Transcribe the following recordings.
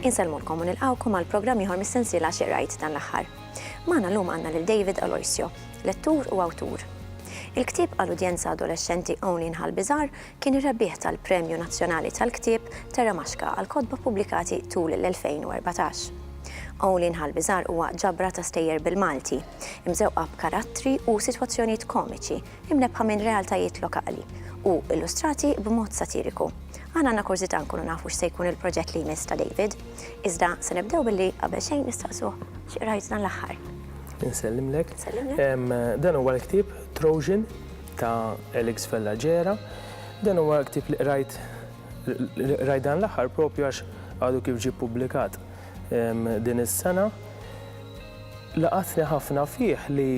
Insellmulkom u nilqawkom għal programm ieħor mis-sensiela xirajt dan l-aħħar. Magħna llum għandna lil David Aloisio, lettur u awtur. Il-ktieb għal udjenza adolexxenti Only in Ħal Biżgħar kien ir-rebbieħ tal-Premju Nazzjonali tal-Ktieb Terra Maxka għall-kotba ppubblikati tul l-2014. Only in Ħal Biżgħar huwa ġabra ta' stejjer bil-Malti, imżewqa b'karattri u sitwazzjonijiet komiċi imnebbħa minn realtajiet lokali u illustrati b'mod satiriku. Aħna għandna kurżità nkunu nafu x'se jkun il-proġett li jmiss ta' David, iżda se nibdew billi qabel xejn nistaqsuh x'qrajt dan l-aħħar. Insellimlek. Dan huwa l-ktieb Trojan, ta' Elix Vella Gera. Dan huwa ktieb li qrajt li qrajt dan l-aħħar propju għax għadu kif ġie ppubblikat din is-sena. Laqatni ħafna fih li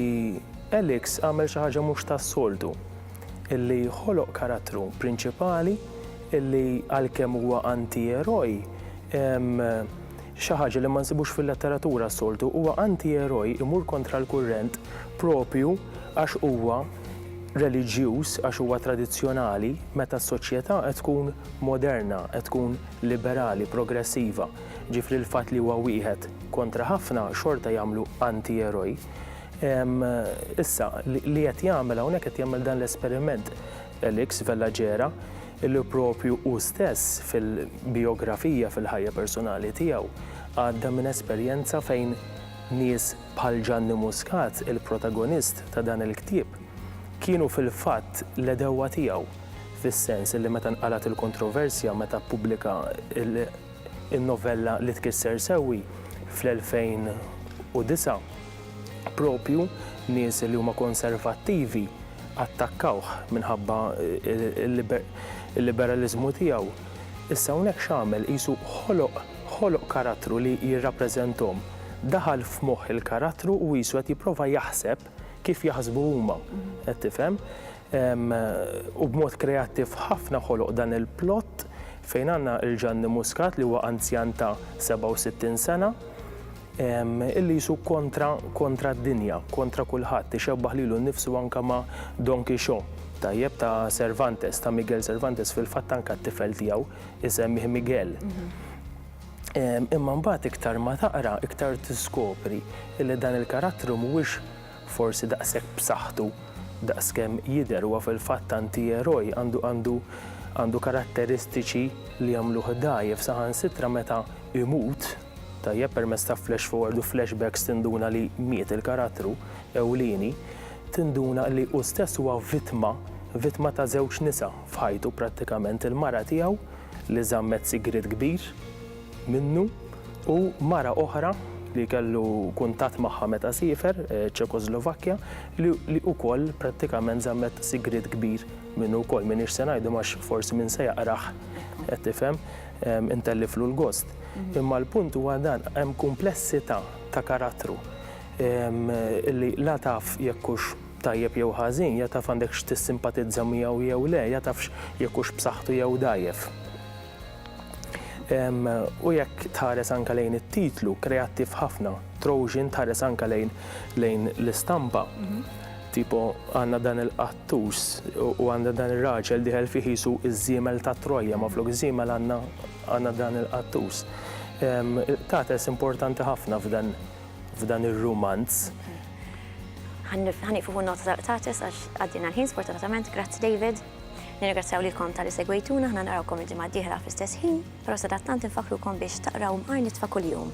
Elix għamel xi ħaġa mhux tas-soltu, illi ħoloq karattru prinċipali illi għalkemm huwa antieroj, Xi ħaġa li ma nsibux fil-letteratura s-soltu, huwa antieroj imur kontra l-kurrent proprju għax huwa reliġjuż, għax huwa tradizzjonali, meta s-soċjetà qed tkun moderna, qed tkun liberali, progressiva. Ġifieri l-fatt li huwa wieħed kontra ħafna xorta jagħmlu antieroj. Issa, li qed jagħmel hawnhekk qed jagħmel dan l-esperiment. Elix Vellagera, illi proprju hu stess fil-bijografija fil-ħajja personali tiegħu għadda minn esperjenza fejn nies bħal Ġanni Muscat, il-protagonist ta' dan il-ktieb, kienu fil-fatt l-għedewwa tiegħu, fis-sens illi meta nqalgħet il-kontroversja meta ppubblika n-novella Li Tkisser Sewwi fl-2009, proprju nies li huma konservattivi, attakkawh minħabba l-liberaliżmu tiegħu, issa hawnhekk x'għamel? Qisu ħoloq, ħoloq karattru li jirrappreżenthom. Daħal f'moħħ il-karattru u qisu qed jipprova jaħseb kif jaħsbu huma. Qed tifhem? U b'mod kreattiv ħafna ħoloq dan il-plot fejn għandna lil Ġanni Muscat li huwa anzjan ta' 67 sena, illi jsuk kontra kontra d-dinja, kontra kulħadd, ixebbaħ lilu nnifsu anke ma' Don Quixo, tajjeb, ta' Cervantes, ta' Miguel Cervantes, fil-fatt anke t-tifel tiegħu isemmih Miguel. Imma mbagħad iktar ma taqra, iktar tiskopri illi dan il-karattru mhuwiex Forsi daqshekk b'saħħtu daqs kemm jidher, huwa fil-fatt antieroj, għandu għandu karatteristiċi li jagħmluh dgħajjef, saħansitra meta imut, tajjeb permezz ta' flash forward u flashbacks tinduna li miet il-karattru ewlieni, tinduna li hu stess huwa vittma, vittma ta' żewġ nisa f'ħajtu prattikament, il-mara tiegħu li żammet sigriet kbir, minnu, u mara oħra li kellu kuntatt magħha meta siefer, Ċekoslovakkja, li ukoll prattikament żammet sigriet kbir minnu wkoll. M'iniex se ngħidhom għax forsi min se jaqrah, qed tifhem, intelliflu l-gost. Imma l-punt huwa dan, hemm kumplessità ta' karattru li la taf jekk hux tajjeb jew ħażin, ja taf għandekx tissimpatizza miegħu jew le, ja tafx jekk hux b'saħħtu jew dgħajjef. U jekk tħares anke lejn it-titlu, kreattiv ħafna, Trojan tħares anke lejn lejn l-istampa. Mhm. Tipo għandna dan il-qattus u għandna dan ir-raġel diħel fih jisu iż-żiemel ta' Troja, ma flok iż-żiemel għandna għandna dan il-qattus. Tates importanti ħafna f'dan f'dan ir-rumanz. Ħanifu nota ta' tates għax għaddina l-ħin sfortunatament, grazzi David. Nirringrazzjaw lilkom talli segwejtuna, aħna narawkom il-ġimgħa d-dieħla fl-istess ħin, però sadattant infakrukom biex taqraw Mqar Nitfa Kuljum.